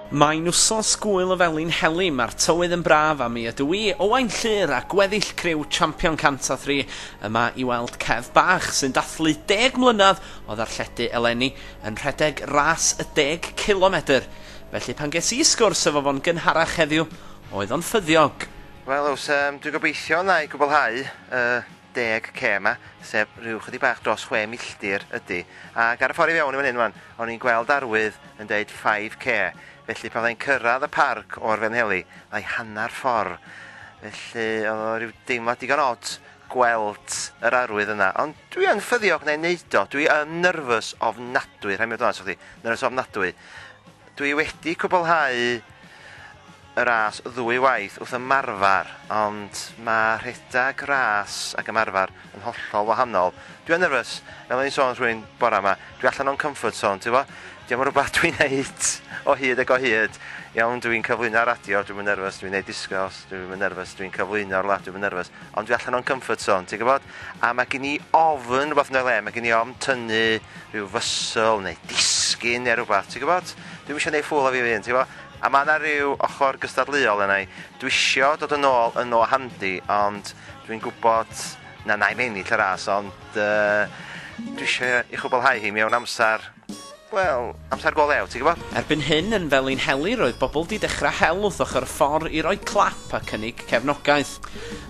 Mae'n wsos gŵyl o Felin Heli, mae'r tywydd yn braf a mi ydw i, Owain Llŷr a gweddill criw Champion Cant a Thri yma i weld Kev bach sy'n dathlu deg mlynedd o ddarlledu eleni yn rhedeg ras y deg cilomedr. Felly pan ges i sgwrs efo fo'n gynharach heddiw, oedd o'n ffyddiog. Wel oes, yym dwi'n gobeithio wna i gwblhau y deg K yma, sef rhyw chydig bach dros chwe milltir ydy, ac ar y ffordd i fewn i fan hyn wan, o'n i'n gweld arwydd yn deud 5K, felly pan fyddai'n cyrraedd y parc o'r Felinheli, fyddai hanner ffordd. Felly oedd o rhyw deimlad digon od gweld yr arwydd yna, ond dwi yn ffyddiog neu wneud o, dwi yn nyrfys ofnadwy, rhaid mi fod yn onest efo chdi, nyrfys ofnadwy. Dwi wedi cwblhau y ras ddwy waith wrth ymarfer, ond mae rhedeg ras ac ymarfer yn hollol wahanol. Dwi yn nervous, fel o'n i'n sôn wrth rywun bora 'ma, dwi allan o'n comfort zone, ti 'bo? Dio'm yn rwbath dwi'n neud o hyd ag o hyd. Iawn, dwi'n cyflwyno ar radio, dwi'm yn nervous, dwi'n neud discjôcs, dwi'm yn nervous, dwi'n cyflwyno rwla, dwi'm yn nervous, ond dwi allan o'n comfort zone, ti'n gwybod? A mae gen i ofn rwbath yn y le, mae gen i ofn tynnu rhyw fysl neu disgyn neu rwbath, ti'n gwybod? Dwi'm eisiau neud ffŵl o fi fy hun, ti 'bo? A mae 'na ryw ochr gystadleuol yna i. Dwi isio dod yn ôl yn o handi, ond dwi'n gwybod na wna i'm ennill y ras, ond yy dwi isio ei chwblhau hi mewn amser, wel, amser go lew, ti'n gwybod? Erbyn hyn, yn Felinheli, roedd bobl 'di dechrau hel wrth ochr y ffordd i roi clap a cynnig cefnogaeth.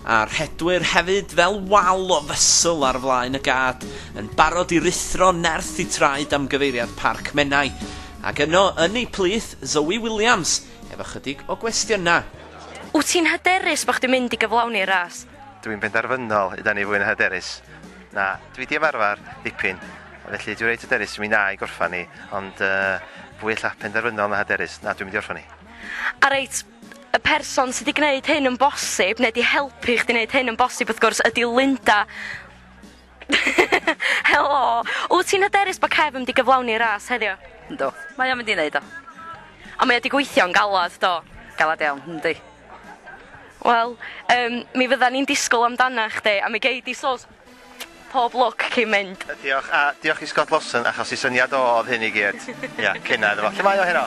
A'r rhedwyr hefyd, fel wal o fysl ar flaen y gad, yn barod i ruthro nerth y traed am gyfeiriad Parc Menai. Ac yno yn ei plith, Zoe Williams, efo chydig o gwestiynau. Wyt ti'n hyderus bod chdi'n mynd i gyflawni'r ras? Dw i'n benderfynol, ydan ni fwy na hyderus. Na, dw i 'di ymarfer dipyn, felly dw i reit hyderus, mi wna i gorffan hi, ond fwy ella penderfynol na hyderus, na, dw i'n mynd i orffan hi. A reit, y person sy 'di gwneud hyn yn bosib, neu 'di helpu chdi 'neud hyn yn bosib wrth gwrs, ydi Linda. Helo! Wyt ti'n hyderus bod Kev yn mynd i gyflawni'r ras heddiw? Yndw. Mae o'n mynd i wneud o. Ond mae o 'di gweithio'n galed, do? Galed iawn, yndi. Wel, um, mi fydda ni'n disgwyl amdana chdi, a mi gei di sos pob lwc cyn mynd. Diolch, a diolch i Scott Lawson, achos i syniad o oedd hyn i gyd. Ia, cynna iddo fo. Lle mae o heno?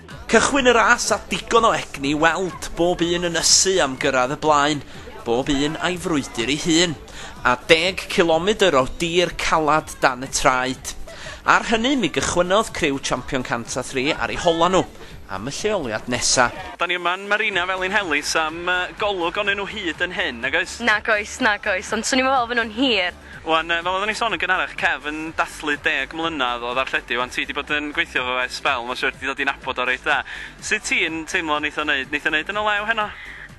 Cychwyn y ras â digon o egni i weld, bob un yn ysu am gyrraedd y blaen, bob un a'i frwydr ei hun, a deg cilomedr o dir calad dan y traed. Ar hynny, mi gychwynnodd criw Champion Cant a Thri ar eu holau nhw am y lleoliad nesa. Da ni yma'n Marina Felin Helis am golwg onyn nhw hyd yn hyn, nag oes? Nag oes, nag oes, ond swn i'm yn meddwl fy nhw'n hir. Wan, fel oeddwn i'n son yn gynharach, Kev yn dathlu deg mlynadd o ddarlledu, wan ti di bod yn gweithio efo fe sbel, ma siwr di dod i nabod o reit dda. Sut ti'n teimlo neith o neud, neith o neud yn y lew heno?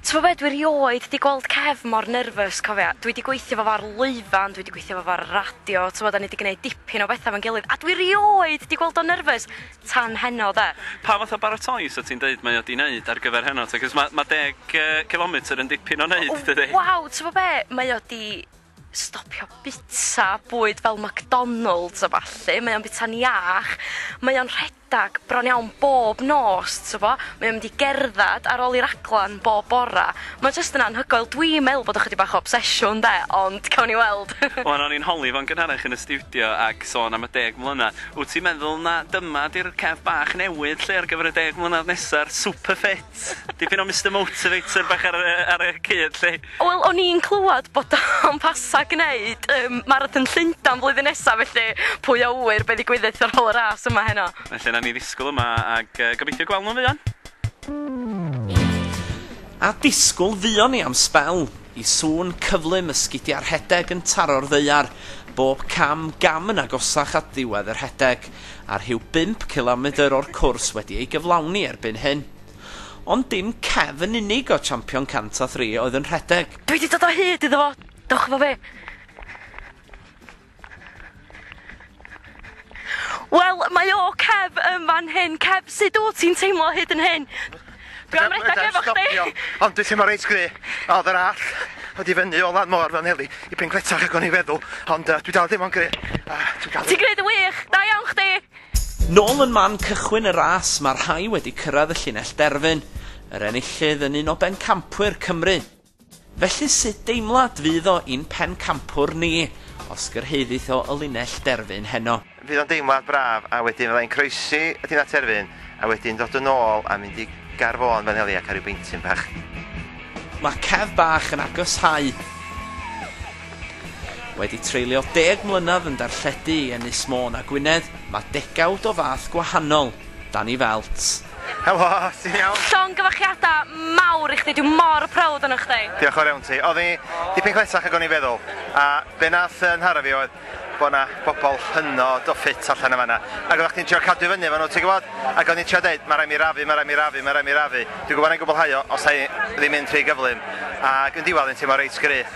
T'bo be, dwi rioed di gweld Kev mor nerfys, cofia, dwi di gweithio efo fo ar lwyfan, dwi di gweithio efo fo ar y radio, t'bo da ni di gneud dipyn o betha efo'n gilydd, a dwi rioed di gweld o'n nerfys tan heno de. Pa fath o baratoi sa ti'n deud mae o di neud ar gyfer heno te, cos ma ma deg yy cilometr yn dipyn o neud dydi? Waw, t'bo be, mae o di stopio bita bwyd fel McDonalds a ballu mae o'n bita'n iach mae o'n rhedag bron iawn bob nos t'bo mae o'n mynd i gerddad ar ôl i raglan bob bora ma' jyst yn anhygoel dwi me'wl bod o chydig bach o obsesiwn 'de ond cawn ni weld. Wan o'n i'n holi fo'n gynharach yn y stiwdio ac sôn am y deg mlynedd. Wt ti'n meddwl na dyma 'di'r cef bach newydd 'lly ar gyfer y deg mlynedd nesa'r superfit? Dipyn o Mister Motivator bach ar y, ar y cyd, lly. Wel, o'n i'n clywed bod o'n pasa gwneud um, Marathon Llundain flwyddyn nesa, felly pwy a wyr be ddigwyddith ar ôl y ras yma heno. Felly, na ni ddisgwyl yma ac uh, gobeithio gweld nhw'n fuan. A disgwyl fuon ni am sbel, i sŵn cyflym y sgidiau rhedeg yn taro'r ddaear, bob cam gam yn agosach at ddiwedd y rhedeg. a rhyw bump cilomedr o'r cwrs wedi ei gyflawni erbyn hyn. Ond dim Kev yn unig oedd champion 103 oedd yn rhedeg. Dwi wedi dod o hyd iddo fo! Dewch efo fi! Wel, mae o, Kev, yn fan hyn. Kev, sut wyt ti'n teimlo hyd yn hyn? Dwi am redag efo chdi! Ond dwi teimlo reit gry, oedd yr all wedi fyny o lan môr fel neli i pen gletach ag o'n i'n feddwl, ond uh, dwi dal ddim o'n gry. A dwi dal Ti'n gwneud yn wych! Da iawn chdi! Nôl yn man cychwyn y ras, mae'r rhai wedi cyrraedd y llinell derfyn. Yr enillydd yn un o bencampwyr Cymru. Felly sut deimlad fydd o i'n Pencampwr ni os gyrhaeddith o y linell derfyn heno? Fydd o'n deimlad braf a wedyn fyddai'n croesi y linell derfyn a wedyn dod yn ôl a mynd i Gar Fôn fel heli a cael rhyw beintyn bach. Mae Kev bach yn agoshau. Wedi treulio deg mlynedd yn darlledu i Ynys Môn a Gwynedd, mae degawd o fath gwahanol dan 'i felt. Helo, ti'n iawn? Llongyfarchiada mawr i chdi, dwi mor proud ohonoch chdi. Diolch o'r iawn ti. Odd i dipyn cletach ag o'n i'n feddwl, a be nath yy nhara fi oedd bo' na bobol hynod o ffit allan yn fan'na, ag oddach chdi'n trio cadw i fyny efo nhw ti'n gwbod, ag o'n i'n trio deud ma' raid mi rafu, ma' raid mi rafu, ma' raid mi rafu, dwi'n gwbod 'nai gwblhau o os 'nai ddim mynd rhy gyflym, ag yn diwadd o'n i'n teimlo reit gryf.